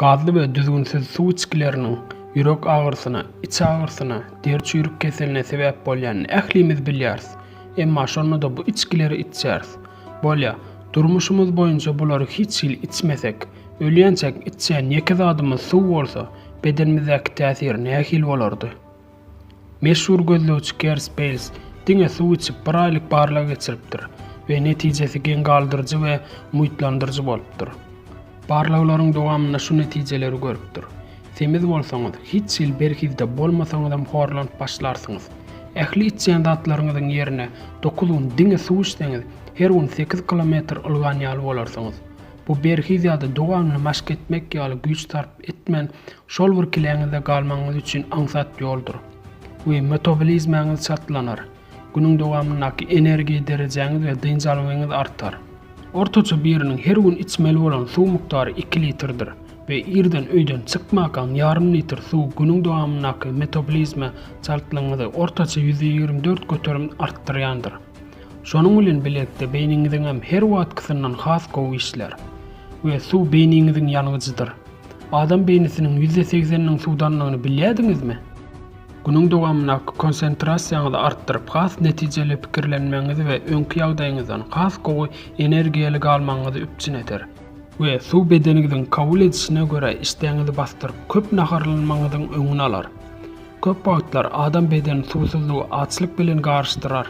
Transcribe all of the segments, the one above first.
Gazly we düzgünsiz suw içgileriniň ýürek agyrysyna, iç agyrysyna, deri çüýrük keseline sebäp bolýanyny ählimiz bilýäris. Emma şonda-da bu içgileri içýäris. Bolýa, durmuşymyz boýunça bulary hiç hili içmesek, ölýänçäk içýän ýeke zadymyz suw bolsa, bedenimizdäki täsir nähili bolardy? Meşhur gözlegçi Kers Beýls diňe suw içip bir aýlyk barlag geçiripdir we netijesi geň galdyryjy we umytlandyryjy bolupdyr. Barlaglaryň dowamynda şu netijeleri görüpdir. Semiz bolsaňyz, hiç hili berhizde bolmasaňyzam horlanyp başlarsyňyz. Ähli içýän zatlaryňyzyň ýerine dokuz gün diňe suw içseňiz, her gün sekiz kilometr ylgan ýaly bolarsyňyz. Bu berhiz ýa-da dowamly maşk etmek ýaly güýç sarp etmän Şol bir kileňizde galmagyňyz üçin aňsat ýoldur we metabolizmaňyz çaltlanar, günüň dowamyndaky energiýa derejäňiz we dynç algyňyz artar. Ortaça biriniň her gün içmeli bolan suw mukdary iki litrdir we irden öýden çykmakaň ýarym litr suw günüň dowamyndaky metabolizma çaltlygyňyzy ortaça ýüz ýigrimi dört göterim artdyrýandyr. Şonuň bilen birlikde beýniňiziňem her wagtkysyndan has gowy işlär. We suw beýniňiziň ýangyjydyr. Adam beýnisiniň ýüzde segseniniň suwdandygyny bilýärdiňizmi? Günüň dowamynda konsentrasiýaňyzy artdyryp, has netijeli pikirlenmegiňizi we öňki ýagdaýyňyzdan has gowy energiýaly galmagyňyzy üpjün eder. We suw bedeniňiziň kabul edişine görä işdäňizi basdyryp, köp naharlanmagyňyzyň öňüni alar. Köp wagtlar adam bedeni suwsuzlygy açlyk bilen garyşdyrar.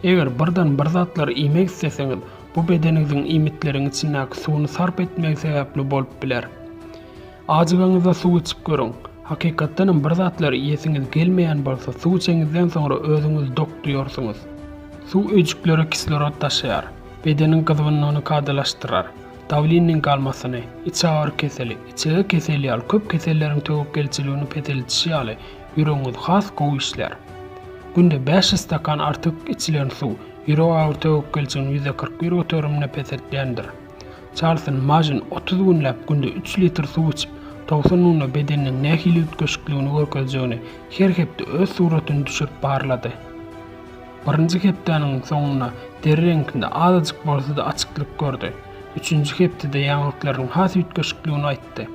Eger birden bir zatlary iýmek isleseňiz, bu bedeniňiziň iýmitleriň içindäki suwuny sarp etmegi sebäpli bolup biler. Ajygaňyzda suw içip görüň. Hakykatdan hem bir zatlary iýesiňiz gelmeýän bolsa, suw içeňizden soňra özüňizi dok duýarsyňyz. Suw öýjüklere kislorod daşaýar, bedeniň gyzgynlygyny kadalaşdyrar. Dawliniň galmasyny, içagyry keseli, içege keseli ýaly köp keselleriň töwekgelçiligini peseldişi ýaly, ýüregiňiz has gowy işlär. Günde bäş ýüz stakan artyk içilen suw, ýürek agyry töwekgelçigini ýüz kyrk bir göterimine peseltýändir. Çarlson Majin otuz günläp günde üç litr suw içip, towsan munda bedeniniň nähili üýtgeşikligini görkezjegini her hepde öz suratyny düşürip barlady. Birinji hepdäniň soňunda deri reňkinde azajyk bolsa-da açyklyk gördi. Üçünji hepdede ýaňaklarynyň has üýtgeşikligini aýtdy.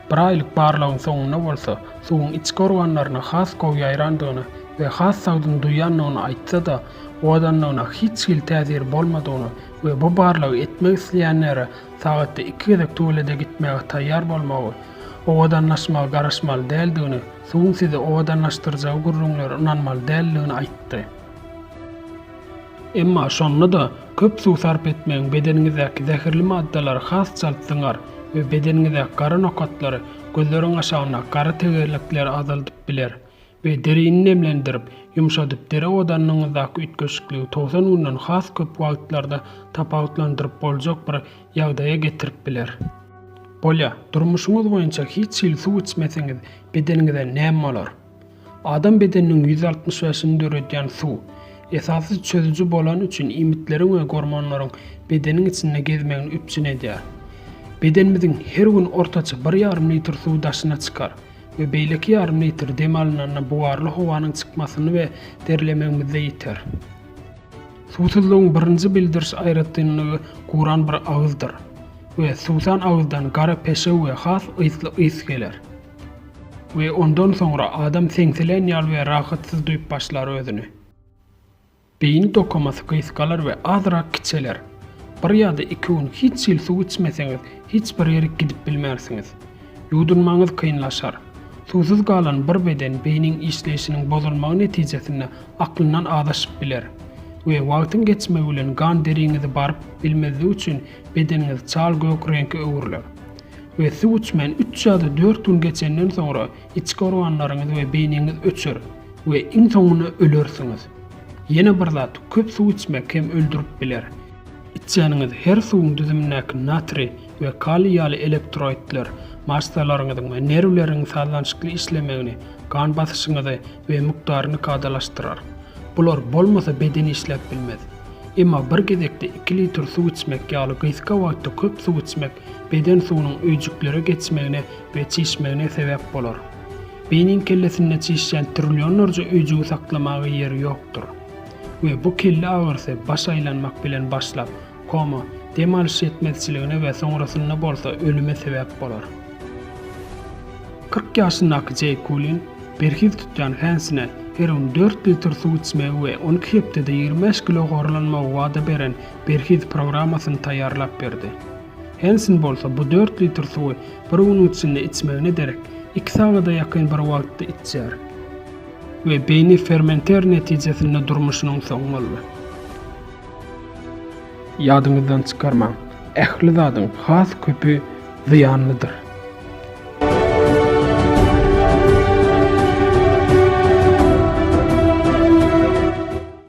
Bir aýlyk barlagyň soňunda bolsa, suwuň içki organlaryna has gowy ýaýrandygyny we has sagdyn duýýandygyny aýtsa-da, owadanlygyna hiç hili täsiri bolmadygyny we bu barlagy etmek isleýänlere sagatda iki gezek tuwelede gitmäge taýýar bolmagy, owadanlaşmagy garaşmaly däldigini Suwuň sizi owadanlaşdyrjagy gürrüňlere ynanmaly däldigini aýtdy. Emma şonda-da köp suw sarp etmegiň bedeniňizdäki zäherli maddalary has çalt zyňar we bedeniňizdäki gara nokatlary, gözleriň aşagyndaky gara tegelekleri azaldyp biler we derini nemlendirip, ýumşadyp deri owdanyňyzdaky üýtgeşikligi togsan günden has köp wagtlarda tapawutlandyryp boljak bir ýagdaýa getirip biler. Bolýar, durmuşyňyz boýunça hiç hili suw içmeseňiz, bedeniňize näme bolar? Adam bedeniniň ýüz altmyş bäşini döredýän suw. Esasy çözüji bolany üçin iýmitleriň we gormonlaryň bedeniň içinde gezmegini üpjün edýär. Bedenimiziň her gün ortaça bir ýarym litr suwy daşyna çykar we beýleki ýarym litr dem alynanda bugarly howanyň çykmasyny we derlemegimizde ýiter. Suwsuzlygyň birinji bildiriş aýratynlygy guran bir agyzdyr we suwsan agyzdan gara peşew we has ysly ys geler. We ondan soňra adam seňsilen ýaly we rahatsyz duýup başlar özüni. Beýni dokamasy gysgalar we azrak kiçeler. Bir ýa-da iki gün hiç hili suw içmeseňiz, hiç bir ýerik gidip bilmersiňiz. Ýuwdunmagyňyz kynlaşar. Suwsuz galan bir beden beýniň işleýşiniň bozulmagy netijesinde aklyndan azaşyp biler we wagtyň geçmegi bilen gan deriňizi baryp bilmezligi üçin bedeniňiz çal gök reňke öwrüler. We suw içmän üç ýa-da dört gün geçenden soňra içki organlaryňyz we beýniňiz öçer we iň soňunda ölersiňiz. Ýene bir zat, köp suw içmek hem öldürip biler. Içýäniňiz her suwuň düzümindäki natriý we kaliý ýaly elektroidler massalaryňyzyň we nerwleriňiň sazlanşykly işlemegini, gan basyşyňyzy we mukdaryny kadalaşdyrar. Bular bolmasa beden işläp bilmez. Emma bir gezekde iki litr suw içmek ýaly gysga wagtda köp suw içmek beden suwunyň öýjüklere geçmegine we çişmegine sebäp bolar. Beýniň kellesinde çişýän trillionlarja öýjügi saklamaga ýeri ýokdur. We bu kelle agyrysy baş aýlanmak bilen başlap, Koma, dem alyş ýetmezçiligine we soňrasynda bolsa ölüme sebäp bolar. Kyrk ýaşyndaky Jeý Kulin berhiz tutýan fänsine her gün dört litr suw içmegi we on iki hepdede ýigrimi bäş kilo gorlanmagy wada beren berhiz programmasyny taýýarlap berdi. Hensin bolsa bu dört litr suwy bir günüň içinde içmegine derek iki sagada ýakyn bir wagtda içýär we beýni fermenter netijesinde durmuşynyň soňy boldy. Ýadyňyzdan çykarmaň, ähli zadyň has köpi zyýanlydyr.